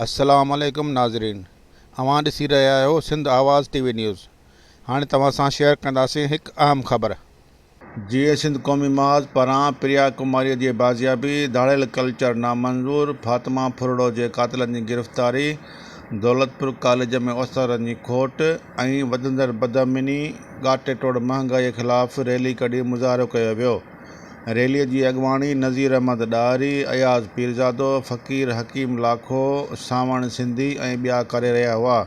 السلام عليڪم ناظرين اوهان ڏسي رهيا آهيو Sindh Awaz T V news هاڻي توهان سان شيئر ڪنداسين هڪ اهم خبر. جيئي سنڌ قومي محاذ پران پريا ڪماريء جي بازيابي، ڌاڙيل ڪلچر نامنظور، فاطمه ڦرڙو جي قاتلن جي گرفتاري، دولتپور ڪاليج ۾ استادن جي کوٽ ۽ وڌندڙ بدامني، ڳاٽي ٽوڙ مهانگائيء خلاف ريلي ڪڍي مظاهرو ڪيو ويو. ريليء جي اڳواڻي نذير احمد ڏاهري، اياز پيرزادو، فقير حڪيم لاکو، سانوڻ سنڌي ۽ ٻيا ڪري رهيا هئا.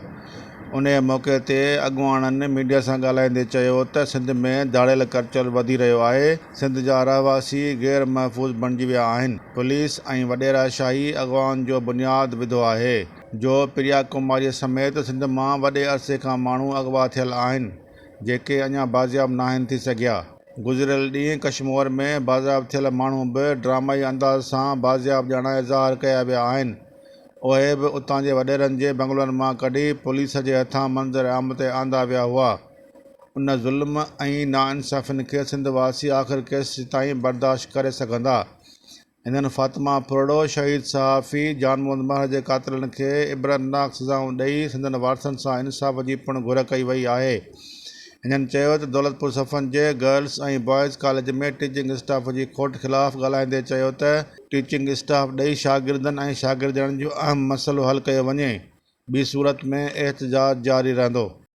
انهيء موقعي تي اڳواڻن ميڊيا سان ڳالهائيندي چيو ته سنڌ ۾ ڌاڙيل ڪرچل وڌي رهيو آهي، سنڌ جا رهواسي غير محفوظ بڻجي ويا آهن، پوليس ۽ وڏيرا شاهي اغوائن جو بنياد وڌو آهي، جو پريا ڪماريء سميت سنڌ مان وڏي عرصي کان ماڻهو اغوا ٿيل آهن، جيڪي اڃا بازياب ناهن ٿي سگهيا، گذريل ڏينهن ڪشمور ۾ بازياب ٿيل ماڻهو به ڊرامائي انداز سان بازياب ڄاڻائي ظاهر ڪيا ويا آهن، اهي به اتان جي وڏيرن جي بنگلن مان ڪڍي پوليس جي هٿان منظر عام تي آندا ويا هئا. ان ظلم ۽ ناانصافين کي سنڌ واسي آخر ڪيستائين برداشت ڪري سگهندا؟ هنن فاطمه ڦرڙو، شهيد صحافي جان محمد مهر جي قاتلن کي عبرتناڪ سزائون ڏئي سندن وارثن سان انصاف جي پڻ گهر ڪئي وئي آهي. هنن چيو ته دولتپور صفن جي girls ۽ boys college ۾ teaching staff جي کوٽ خلاف ڳالهائيندي چيو ته، ٽيچنگ اسٽاف ڏئي شاگردن ۽ شاگردياڻين جو اهم مسئلو حل ڪيو وڃي، ٻي صورت ۾ احتجاج جاري رهندو.